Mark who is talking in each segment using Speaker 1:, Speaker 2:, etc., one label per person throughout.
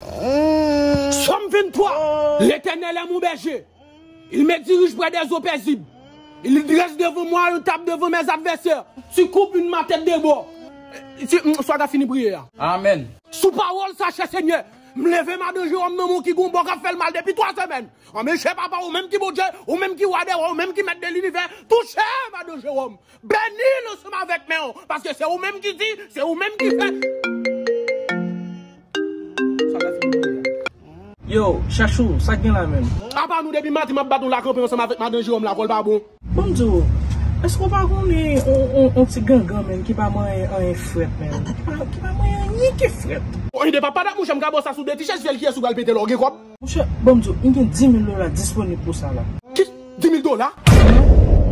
Speaker 1: Sòm 23, Letènèl è mon bèje, il me dirige prè dè zo pèzib, il drèse devan mwa yon tab devan mè zadvèsè, tu koup yn ma tèt de bò, tu m swa ta fini priye a. Amen. Sou
Speaker 2: pawol sa
Speaker 1: chè senyè m leve madan Jewòm nan men w ki gon bò kap fèl mal depi 3 semèn anmè chè papa ou menm ki Bondye ou menm ki wa dè wa ou menm ki mèt de linivè touche madan Jewòm Beni l ansanm avèk men w, paske se ou menm ki di, se ou menm ki fè.
Speaker 3: Yo, chachou, sa k gen la menm? Apa nou depi madi
Speaker 1: map bat nou la kanpe ansanm avèk madan Jeròm la vòl pa bon. Bon m di w,
Speaker 3: èske w pa konnen on ti gangan menm ki pa manyen anyen frèt menm, ki pa manyen anyen ki frèt. Oy de papa dat mouche
Speaker 1: m ka bo sa sou de ti chèz fyèl kiyès ou pral pete la w gen kòb. Monchè, ban m di w, m
Speaker 3: gen dimil dola disponib pou sa la. Ki? Dimil
Speaker 1: dola? Sèlman?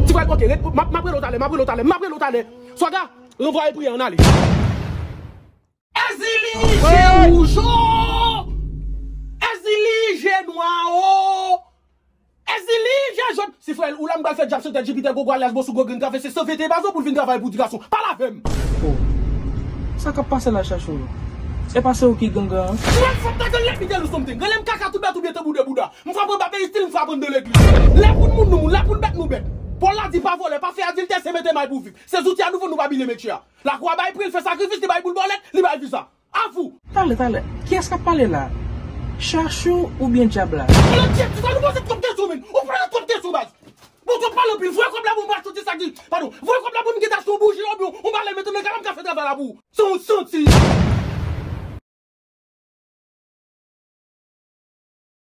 Speaker 1: Ti Fred, Oke, ret, m ap rele w talè, m ap rele w talè, m ap rele w talè! Swaga, ranvwaye priyè an ale. Èzili, je wouj o! Èzili, je nwa o! Èzili, je jòt! Si frè l ou la m pral fè djab santèt Jipitè Gogo alyas Bosou Gwo Grenn Travèse San Vete Epazo pou l vin travay pou ti gason. Pale avè m! Oh!
Speaker 3: Sa k ap pase la Chachou? E pa se ou ki gangan an? Ou wè m fòk ta grann lè
Speaker 1: pi tèl ou something. Grann lè m kaka tou bèt ou byen tanbou de bouda. M frapan ba peristil m frapan de legliz. Lè pou n moun nou moun, lè pou n bèt nou bèt. Pòl la di pa vòlè, pa fè adiltè se mete may pou viv. Se zouti a nou vann nou pa bile metye a. Lakwa bay pri l fè sakrifis li bay boul bòlèt, li bay viza. A vous! Tale tale! Kiyes
Speaker 3: kap pale la? Chachou ou byen dyab la? Alon Jeff ti
Speaker 1: sa
Speaker 3: nou pase
Speaker 1: twòp kesyon menn ou pale twòp kesyon baz bon twòp pale anpil voye kòb la pou m ba chante sa ki padon voye kòb la pou m geta achte yon bouji obyen yon balèn mete nan kay la m ka fè travay la pou ou san ou santi.